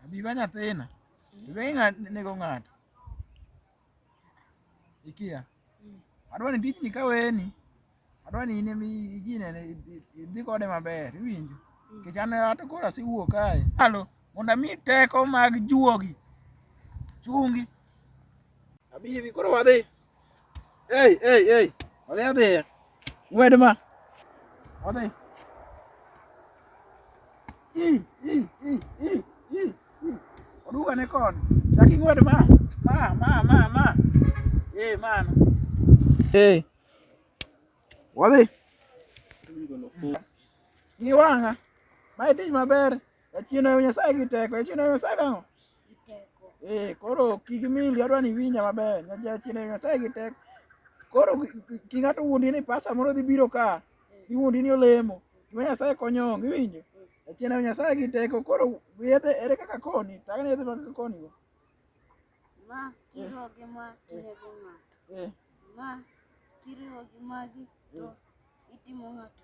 Abiba nyathina, iwe nego ng'ato. Ikia. Adwa ni tijni kaweni, adwa ni in emi ginene idhi kode maber, iwinjo? Nikech an ato koro asewuok kae. Alo, mondo ami teko mag juogi chungi. Abibi koro wadhi. Ei, ei, ei. Wadhi adhi. Ng'wed ma. Wadhi. I, i, i, i, i, i. Oduga ne kon. Chak ing'wed ma. Ma, ma, ma, ma. Ei, man. Ei. Wadhi. Ng'i wang'a. Ma e tich maber. Jachien ohewo Nyasaye gi teko. Jachien ohewo Nyasaye gang'o? Eh, koro kik mindi adwa ni winja maber. Nya- Jachien ohewo Nyasaye gi teko. Koro ki- ki- ki ng'ato wuondi ni pasa moro dhi biro ka. Iwuondi ni olemo. Gima Nyasaye konyo onge iwinjo. Jachien ohewo Nyasaye gi teko. Koro yedhe ere kaka koni? Tang' ne yedhe mag koni go. Ma kiriwo gi ma tinego ng'ato. Eh, Ma kiriwo gi magi to itimo ng'ato.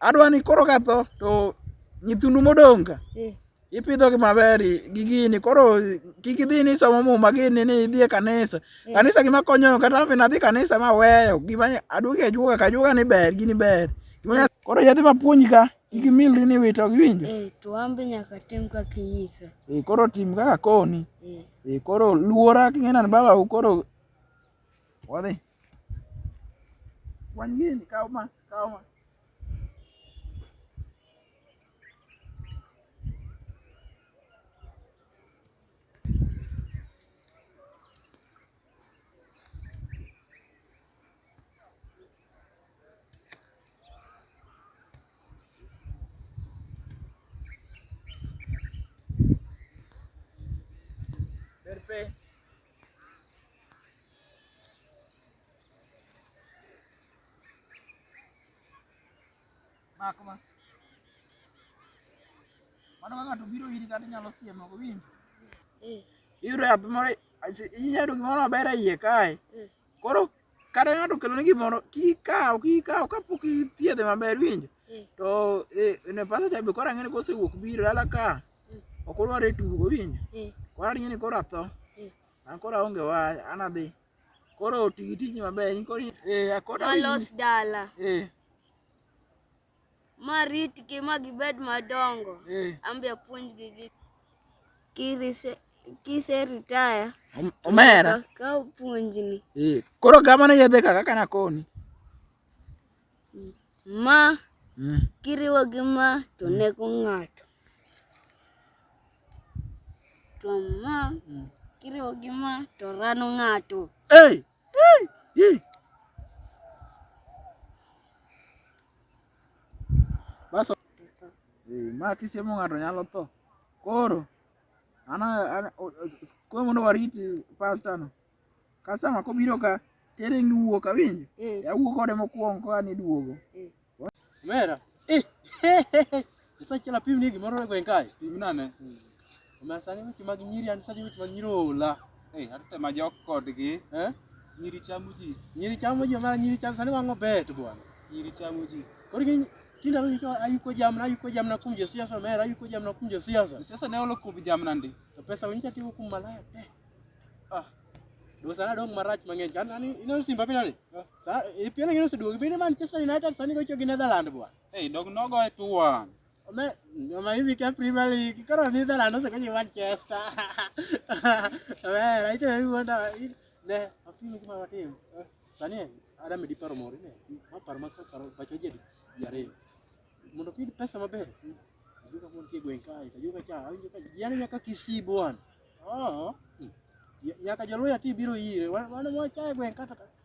adwa ni koro katho to nyithindu modong' ka eh. ipidhogi maber gi gini koro kik idhi ni somo muma gini ni idhi e kanisa eh. kanisa gima konyo kata be nadhi kanisa ma weyo gima aduogi ajuoga ka ajuoga ni ber gini ber eh. koro yadhi mapuonji ka kik imilri ni wito giwinjo to an be nyaka tim kaka inyisa koro tim kaka koni koro luora king'ena ni baba koro Wadhi. Wang' gini, kaw ma, kaw ma. Mak ma. Mano kaka to biro iri kata inyalo siemo ok winjo. Eh. Iyudo yath moro inyalo gimoro maber e iye kae. Eh. Koro kata ng'ato okeloni gimoro kik ikaw kik ikaw kapok ithiedhe maber iwinjo. Mm. To eh, ne pasta cha be koro ang'e ni kosewuok biro dala ka Mm. ok odwar e tugo iwinjo. Mm. Koro aringe ni koro atho. Mm. An koro aonge wach an adhi. Koro ti gi tijni maber in koro in- eh akoda Malos dala. eh Ma ritgi ma gibed madongo. eh Ambe apuonjgi gi. Kirise Kise retire. Omera. Ka puonjni. Eh, koro gavana yedhe kaka kana koni. Ma mm. kiriwo gi ma to mm. nego ng'ato. To ma mm. kiriwo gi ma to rano ng'ato. Hey! Hey! Hey! Baso. Eh, ma kisiemo ng'ato nyalo tho. Koro Ana ana koro mondo warit pasta no. Customer kobiro ka tere ni wuok awinjo. Eh. Awuo kode mokwongo koa ni duogo. Eh. Mera. Eh. Sasa chela pim ni gimoro e gweng kae. Pim nane. Hmm. Omera sani weche mag nyiri an sani weche mag nyiri ola. Eh, atema jok kodgi. Eh. Nyiri chamo ji. Nyiri chamo ji ma nyiri chamo sani wang'o bet bwana. Nyiri chamo ji. Koro gin tinda ro iko ayuko jamna ayuko jamna kum jo siasa mera ayuko jamna kum jo siasa. Sasa ne olo kubi jamna ndi. To pesa winja tigo kum malaya. Eh. Ah. Do sana dong marach mang'eny. Kan ani ino simba pina ni. Sa e pina ngino seduogi bende Manchester United sani gocho gi Netherlands bwana. Hey, dog no go to one. Ome, ome hivi ka Premier League, karo ni dala no sakaji Manchester. Ome, right hivi wanda ne, afimu kuma watim. Sani ada medi paro mori ne. Ma paro ma paro bacho jadi yare. Mondo pid pesa maber. Ajuka mon tie gwen kai, ajuka cha, ajuka yani nyaka kisi bwan. Oh. Nyaka joluya ti biro ire. Wana mwa cha gwen kata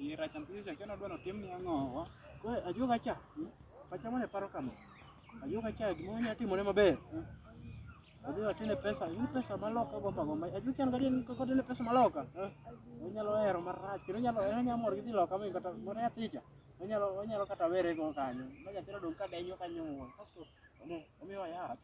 Iye rach nyathi cha keno dwaro tim ni ang'o. Ko ajuoga cha. Pacha mane paro kama. Ajuoga cha gima onya timore maber. Odhi watine pesa, in pesa maloka gomba gomba. Ajuoga cha ngadi ni koko tine pesa maloka. Onyalo hero marach, kendo onyalo onyalo mor gi dhi loka mi kata moro nyathi cha. Onyalo onyalo kata were go kanyo. Ma nyathi odong ka denyo kanyo. Kasto omiwa yath.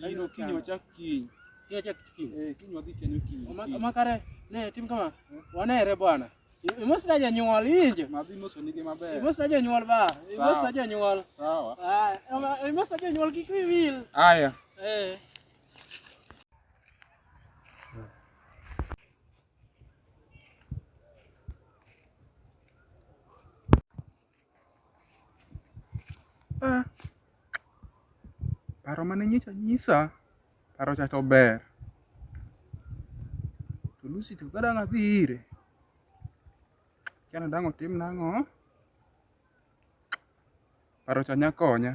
Kairo kiny wachak kiny. Kiny wachak kiny. Eh, kiny wadhi kendo kiny. Oma kare ne tim kama. Eh? Wanere bwana. Imos na janyuol inje. Madhi moso nige maber. Imos na janyuol ba. Imos na janyuol. Sawa. Ah, imos na janyuol kik wiwil. Aya. Eh. Ah, paro mane nyicha nyisa, paro cha to ber. To Lucy to ka dang' adhi ire, akia ni dang' otimna ang'o. Paro cha nya konya.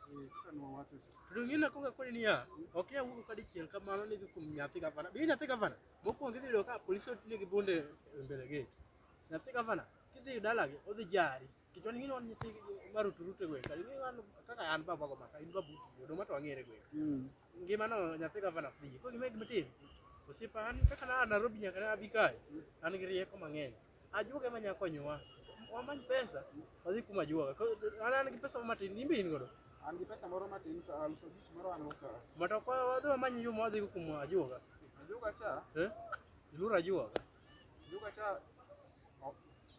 Rungina ko ka koni niya, ok ya wuok ka dichiel kamano ni kuom nyathi gavana. Bi nyathi gavana, mokuongo idhi yudo ka polisi otiyo gi bunde e mbele gate. Nyathi gavana kidhi dalagi odhi jari. Kichwani ng'ino wan nyithi marutu rute gweng' kali ng'ino wan kaka an baba go maka in babu oduma to wang'ere gweng'. Ngimano nyathi gavana free. Ko gima gima timo Osiepa an kaka na Nairobi nyaka na abi kae, an gi rieko mang'eny. Ajuoga ema nya konyowa. Wamany pesa, wadhi kuom ajuoga. Ko- An an gi pesa matin, in be in godo. An gi pesa moro matin to an to gik moro an uka. Mata kwa wadhi wamany yo ma wadhi go kuom ajuoga. Ajuoga cha, Eh? Iluoro ajuoga. ajuoga cha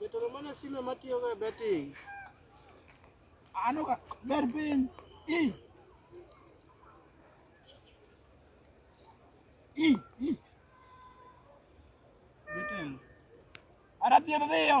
Jatelo mane sime matiyogo e betting. Ano ka ber piny. I. I. I. Betting. Ara tiyo dhiyo.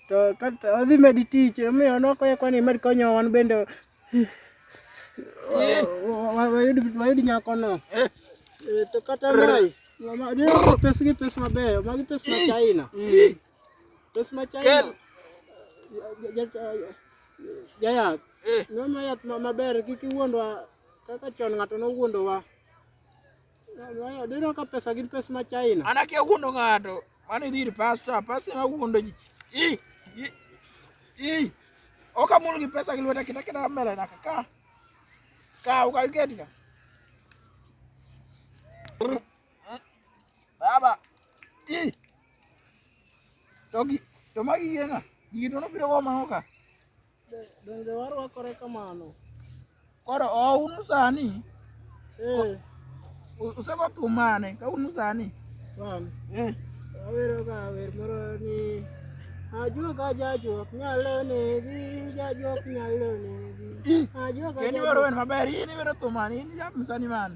to kata odhi medi tich omiyo noko ya kwani med konyo wan bende wayud wayud nyako no eh. Eh, to kata mai mama dino pes gi pes mabeyo magi pes ma China mm. pes ma China jayath eh. nono yath maber kik iwuondwa kaka chon ng'ato nowuondowa Dino ka pesa gin pesa ma China. An akia wuondo ng'ato. Mano idhi ir pasta, pasta ema wuondo ji. I, i, i. Ok amul gi pesa gi lweta kita kita mbele na ka. Ka ukaiketika. Baba. Ih. To gi to magi yena. Gigi to nobiro go mano ka. Donge warwakore kamano? Koro oun sani. Eh. Usego thum mane? Ka un sani. Wan. Eh. Awero ga wer moro ni ajuoga jajuok nyalo negi jajuok nyalo negi ajuoga jajuok. Kendo wero wer maber. Ini wero thum mane? Ini jam sani mane?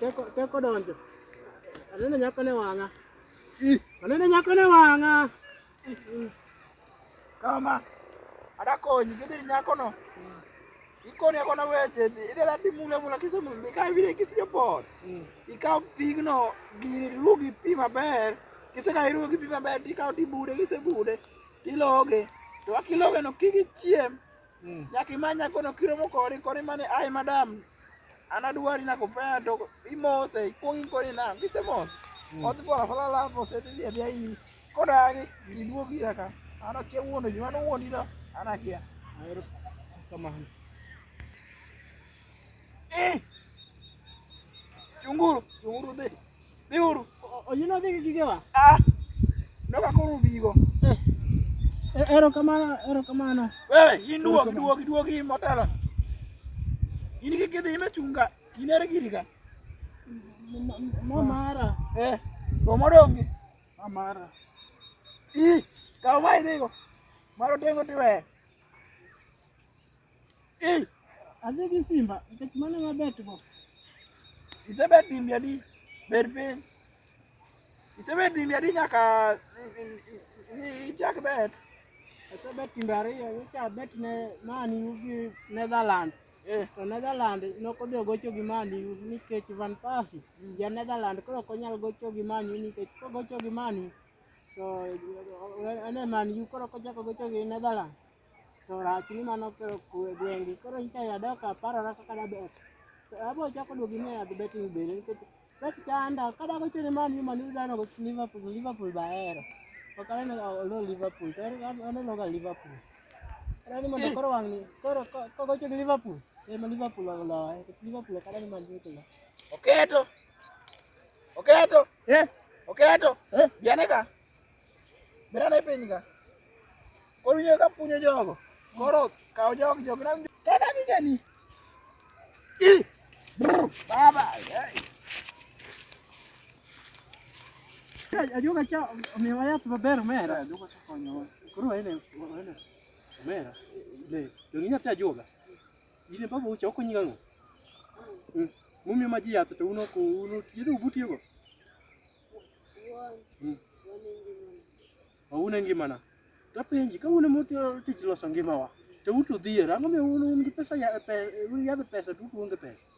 Teko teko donjo. Anene nyako ne wang'a. Anene nyako ne wang'a. Kama. Ada konyi gidhi nyako no. Ikone kona weche idela timule mula kise mula ka vile kisi yo bor. Ikaw pigno gini rugi pi maber. Kise ka irugi pi maber tikaw tibude kise bude. iloge to kaka iloge no kik ichiem mm. nyaka imany nyako no kiromo kori kori mane aye madam an adwari nako pea to imose ikuong ikoni na kisemose mm. odhi bora falala mosete dhi adhi ayi kodagi iduog ira ka an akia wuondo ji mano wuondi to an akia Kamano. Eh! Chunguru, chunguru dhi. Dhi uru. Oyino dhi gi gigewa. Ah! Noka koro ubigo. Eh. E- Erokamano, erokamano. Wewe, in duogi, duogi, duogi in motelo. In kik idhi ime chunga. In ere giri ka. M- m- Mamara. Eh, to modongi. Mamara. Ih, Kaw ma idhigo. Mar otengo tiweyo. Ei, adhi gi simba nikech mano ema betgo. Isebet dimbi adi? Bed piny. Isebet dimbi adi nyaka ichak bet? Asebet timbe ariyo, nyocha abet ne Man U gi Netherlands. Eh. To Netherland nokodhi ogocho gi Man U nikech Van Persie ja Netherland koro ok onyal gocho gi Man U nikech kogocho gi Man U to ane man yu koro kochako gocho gi Netherlands to rach ni mano koro kwe gwengi koro nyicha yadok aparora kaka dabet to abo chako duogi ni adhi betting bende nikech bet chanda kada gocho ni man yu man yu dano gocho Liverpool Liverpool bahero ok aneno olo Liverpool to aneno ga Liverpool koro ni mondo koro wang'ni koro kogocho gi Liverpool ema Liverpool oloye Oketo. Oketo. Eh? Oketo. Eh? Biane ka. Biane piny ka. Koro winjo ka punyo jogo. Koro kawo jogo jogo na winjo. Tena ni gani. Baba. Hey. Ajuoga cha omiyowa yath maber omera. Ajuoga cha konyowa. Koro waene waene omera. Ne, donge nyathi ajuoga? Jine baba ucha okonyi gang'o? Mm. Mumiyo ma ji yath to uno ko uno yedhe ubutiyogo. Mm. Waune ngimana. Tapenji ka uno moti tich loso ngimawa. To utu dhier, ang'o miyo un un gi pesa ya pe, un yadh pesa to utu onge pesa.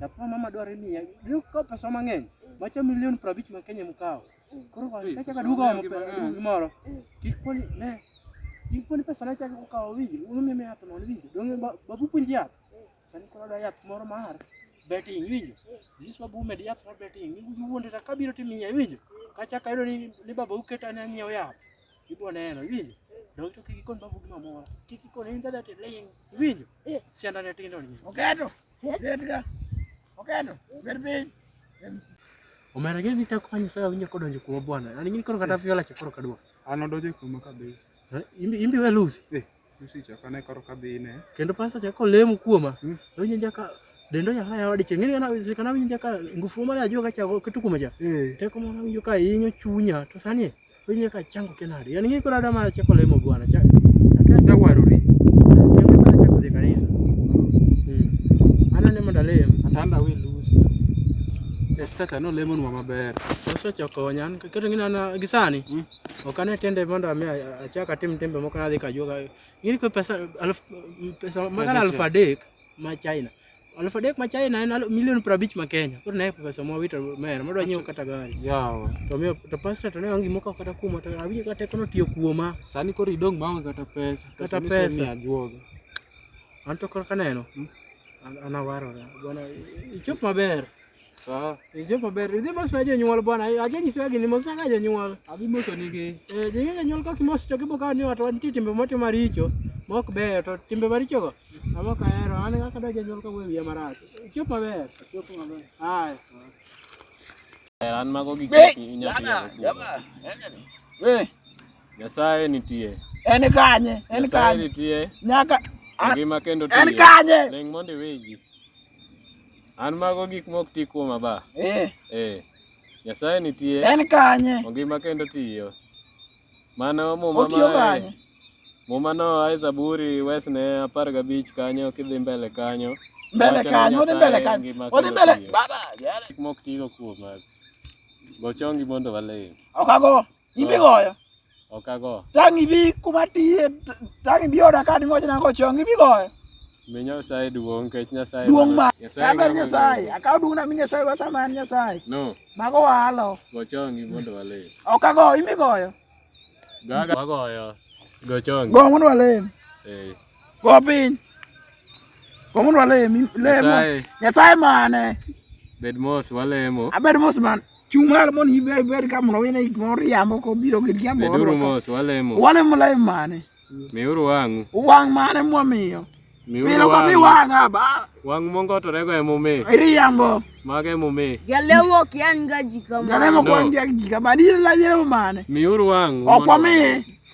Japo mama dwaro imiya. Leo kawo pesa mang'eny. Macha milion 50 ma Kenya mkawo. Koro kwa Hey, kacha pesa kadugo mang'eny gi mang'eny. mapesa moro. Kikoni ne. Kikoni pesa na chako kawo winji. Uno mimi yath non winji. Donge ba- babu puonji yath. Sani koro da yath moro mar betting winjo. Yesu babu med yath mar betting. Ni wuonde ta kabiro timiya winjo. Kacha kayudo ni ni baba uketa ne ng'iew yath. Ibo neno winjo. Donge to kikoni babu gima moro. Kikoni in dada tiling. Winjo. Sianda ne tindo ni. Oketo. Omera gin ni chako kwanyo saa winyo kodonjo kuma bwana. Ani ngini koro kata viola chakoro kadwa. An odonjo kuma kabisa. Eh, Imbi imbi we lose. Eh, Lucy chaka ne karo kadhi ine. Kendo pasta chako lemo kuoma. Hmm. Winyo jaka dendo ya haya wadi chenge ngina sikana winyo jaka ngufu mara ajua kacha kitu kumaja. Eh, Teko mwana winyo ka inyo chunya. To sani Wewe nyaka changu kenari. Yaani ngiko dada mara chako lemo bwana. Chako. Chako cha waruri. Yangu sana chako de kanisa. Mm. Ana nemo dalem. Atanda we lose. Esta cha no lemon mama ber. Sasa cha konyan. Kitu ngine ana gisani. Mm. Okane tende mondo ame achaka tim tembe moko nadhi kajuoga. Ngiri kwa pesa alf pesa magana alfa dek ma China. Aluf adek ma China en alu- milion piero abich ma Kenya. Koro ne pesa ma wito mer, madwa nyiewo kata gari. Yawa. To miyo to pastor to ne onge gima okawo kata kuoma to awinjo kata tekono tiyo kuoma. Sani koro idong' maonge kata pesa. Kata Pesa pesa. misemiyo ajuoga. An to koro kaneno. An an awarora. Bwana ichop maber. Sawa. Injo maber. Idhi mos na jonyuol bwana. Aje nyiso gini mos na ga jonyuol. Abi moso nigi. Eh, jonyuol jonyuol kok mos to kibo kawo ni watu wan nitie timbe motimo maricho. Mok beyo to timbe maricho go. Amo ka hero an ga kada jonyuol ka wuoyo wiya marach. Chop maber. Chop maber. Haya. An mago gik Be- mati- inyalo tiyo Jana, go. jama, eneni. Eh, Nyasaye nitie. en kanye? En Nyasaye kanye? nitie. Nyaka Ngima kendo en tiyo. kanye? Ling' mondo iwinji. An mago gik mok ti kuoma ba. Eh. Eh. Nyasaye nitie. En kanye? Ongima kendo tiyo. Mano muma Otiyo kanye? Muma no ae Zaburi wesne apar gabich kanyo kidhi mbele kanyo. Mbele kanyo, odhi mbele kanyo. Odhi mbele. Baba, yale. Mok tigo kuoma. Gochongi mondo walem. Okago. in be goyo ok ago tang' ibi kuma tiye tang' ibi oda ka ni mochna go chong ibi goyo mi nyasaye duong' kech nyasaye duong' ma kamber nyasaye akaw duong' na mi nyasaye wasa man nyasaye no mago walo go chong ibi mondo wale ok ago ibi goyo gaga wagoyo go chong go mondo wale eh Go piny. Go mondo walemi. Lemo. Nyasaye mane? Bed mos walemo. Abed mos man. Chung' malo mondo ibed ka mondo wine gik moro yamo kobiro gi yamo. Beduru mos walemo. Walemo lem mane? Miuru wang'u. Wang' mane mwamiyo? Milo ka mi wanga ba. Wang mongo to rego emume. Iri yambo. Mage emume. Galemo kian ga jikama. Galemo kwa ndia jikama. Ni la yero mane. Miuru wangu. Okwa mi.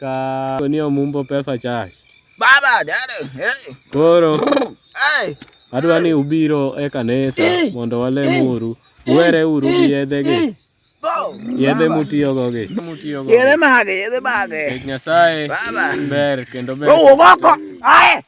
ka ni omumbo pesa chai. Baba, dada, hey, Koro hey. adwa ni ubiro e kanisa mondo walemuru. Uwere uru gi yedhe gi, Bo. yedhe mutiyogo gi. Mutiyogo Yedhe gi. mage, yedhe mage. Nikech Nyasaye Baba. ber kendo ber. Owuog oko. Aye.